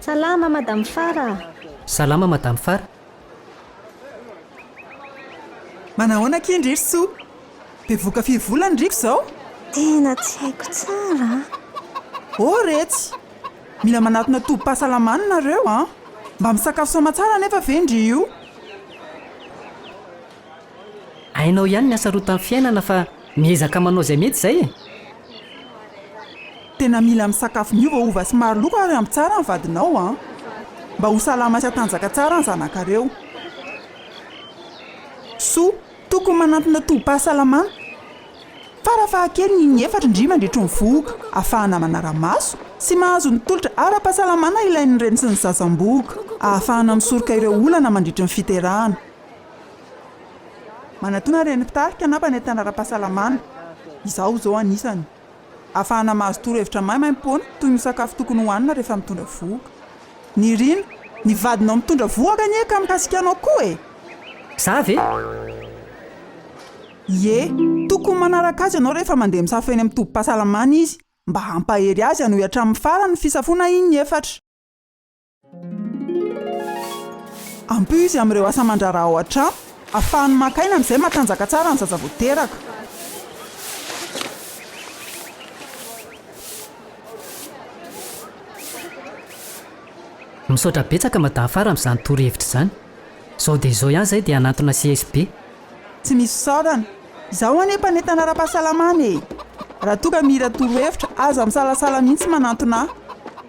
Salama madame Fara a! Salama madame Fara! Manahoana akia ndry ry soa? Bevoka firy vola ny riko izao? Tena tsy haiko tsara a! Oh retsy! Mila manatona tobim-pahasalamana nareo an! Mba misakafo soamatsara anefa ve ndry io? Hainao ihany ny hasarotan'ny fiainana fa miezaka manao izay mety izay e! Tena mila misakafo miova hova sy maro loko ary ampy tsara ny vadinao an! Mba ho salama sy hatanjaka tsara ny zanakareo. Soa, tokony manantona tobim-pahasalamana. Fara fahakeliny inefatra indry mandritry ny vohoka ahafahana manara-maso sy mahazo ny tolotra ara-pahasalamana ilain'ny reny sy ny sasam-bohoka ahafahana misoroka ireo olana mandritry ny fiterahana. Manatona ny Renin'ny Mpitarika na mpanentana ara-pahasalamana, izaho izao anisany, ahafahana mahazo torohevitra maimaimpoana toy ny sakafo tokony hohanina rehefa mitondra vohoka. Nirina, Ny vadinao mitondra vohoka anie ka mikasika anao koa e! Za ve? Ie, tokony manaraka azy ianao rehefa mandeha misafo eny amin'ny tobim-pahasalamana izy mba hampahery azy hanohy hatramin'ny farany ny fisafoana iny efatra. Ampio izy amin'ireo asa aman-draharaha ao an-trano, ahafahany maka aina amin'izay mahatanjaka tsara ny zaza vao teraka. Misaotra betsaka Madahafara amin'izany torohevitra izany. Izao dia izao ihany izahay dia hanantona CSB. Tsy misy fisaorana. Izaho anie mpanentana ara-pahasalamana e! Raha toa ka mihira torohevitra, aza misalasala mihitsy manantona ahy.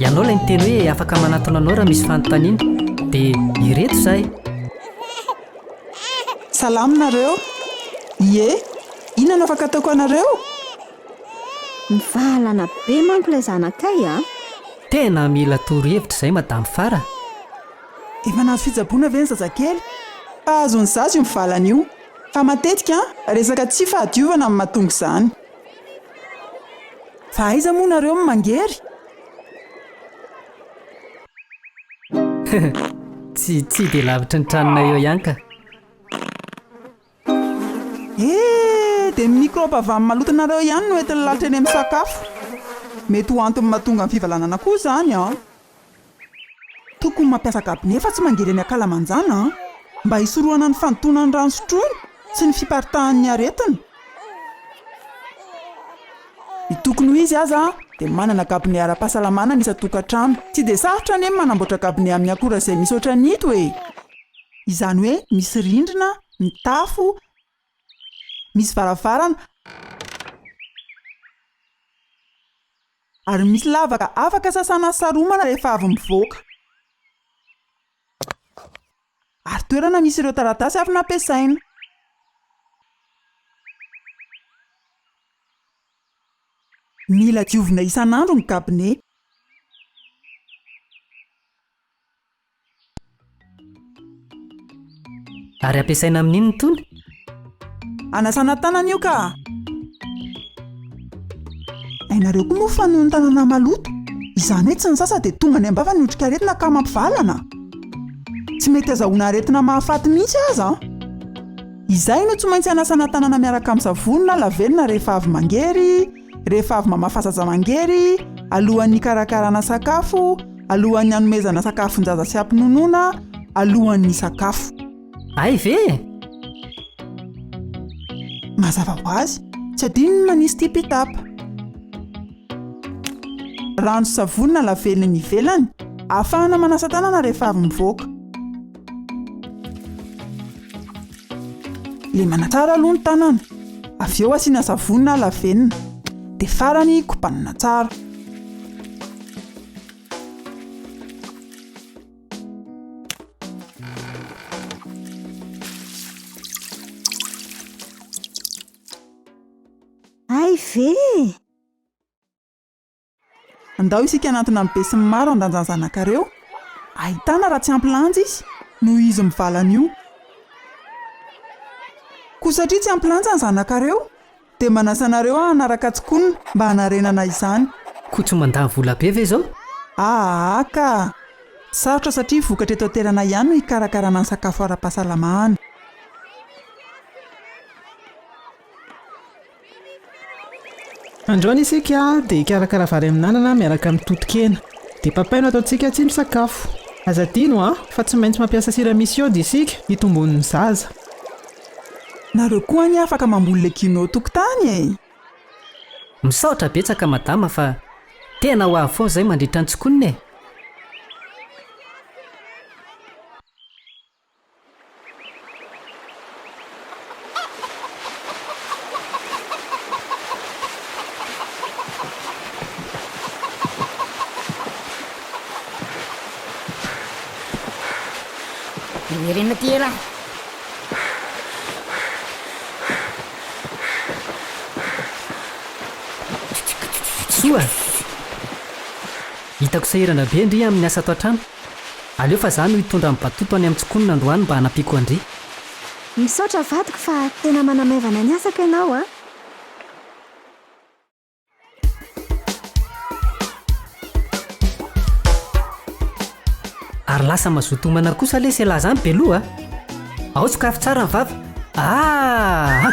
Ianao ilay niteny hoe afaka manatona anao raha misy fanontaniana, dia ireto izahay. Salama nareo? Ie, inona no afaka ataoko anareo? Mivahalana be manko ilay zanakay a! Tena mila toro hevitra izay madame Farah! Efa nahazo fitsaboana ve ny zazakely? Mpahazo ny zaza io mivalana io, fa matetika resaka tsy fahadiovana no mahatonga izany. Fa aiza moa nareo no mangery? Tsy tsy dia lavitry ny tranonay eo ihany ka. He! Dia ny mikrôba avy amin'ny malotonareo ihany no entin'ny lalitra eny amin'ny sakafo. Mety ho antony mahatonga ny fivalanana koa izany an! Tokony mampiasa gabone fa tsy mandeha eny ankalamanjana an! Mba hisorohana ny fandotoanan'ny rano sotroiny sy ny fiparitahan'ny aretina. Ny tokony ho izy aza dia manana gabone ara-pahasalamana ny isan-tokantrano. Tsy dia sarotra anie ny manamboatra gabone amin'ny akora izay misy ohatran'ito e! Izany hoe misy rindrina, mitafo, Misy varavarana ary misy lavaka afaka sasana sy saromana rehefa avy mivoaka. Ary toerana misy ireo taratasy avy nampiasaina. Mila diovina isan'andro ny kabine. Ary ampiasaina amin inona tony? Anasana tanana io ka! Hainareo koa moa fa noho ny tanana maloto, izany hoe tsy nisasa dia tonga any am-bava ny otrikaretina ka mampivalana. Tsy mety azahoana aretina mahafaty mihitsy aza. Izay no tsy maintsy anasana tanana miaraka amin'ny savony na lavenona rehefa avy mangery, rehefa avy mamafa zazamangery, alohan'ny hikarakarana sakafo, alohan'ny hanomezana sakafon-jaza sy hampinonoana, alohan'ny hisakafo. Hay ve e! Mazava ho azy, tsy adino ny manisy tipi-tapa. Rano sy savony na lavely ny ivelany, ahafahana manasa tanana rehefa avy mivoaka. Lemana tsara aloha ny tanana, avy eo asiana savony na lavenona, dia farany kobanina tsara. Hay ve? Andao isika hanantona ny besinimaro handanjany zanakareo ahitana raha tsy ampy lanja izy noho izy mivala an'io. Koa satria tsy ampy lanja ny zanakareo dia manasa anareo hanaraka tsikonona mba hanarenana izany. Koa tsy mandany vola be ve izao? Aa ka! Sarotra satria vokatra eto an-toerana ihany no hikarakarana ny sakafo ara-pahasalamana. Androany isika dia hikarakara vary amin'anana miaraka amin'ny totokena. Dia papaye no ataontsika tsindrin-tsakafo. Aza adino an, fa tsy maintsy mampiasa sira misy iode isika hitombon'ny zaza. Nareo koa anie afaka mamboly legioma eo an-tokotany e! Misaotra betsaka madama fa tena ho avy foana izay mandritra ny tsikonina e! Miverena aty elah. Soa! Hitako sahirana be ndry amin'ny asa ato an-trano. Aleo fa za no hitondra an'i Batoto any Amtsikonina androany mba hanampiako an-dry. Misaotra vadiko fa tena manamaivana ny asako ianao a! Ary lasa mazoto homana kosa lesy ialahy zany Belo a! Ao sokafy tsara ny vava! Aah!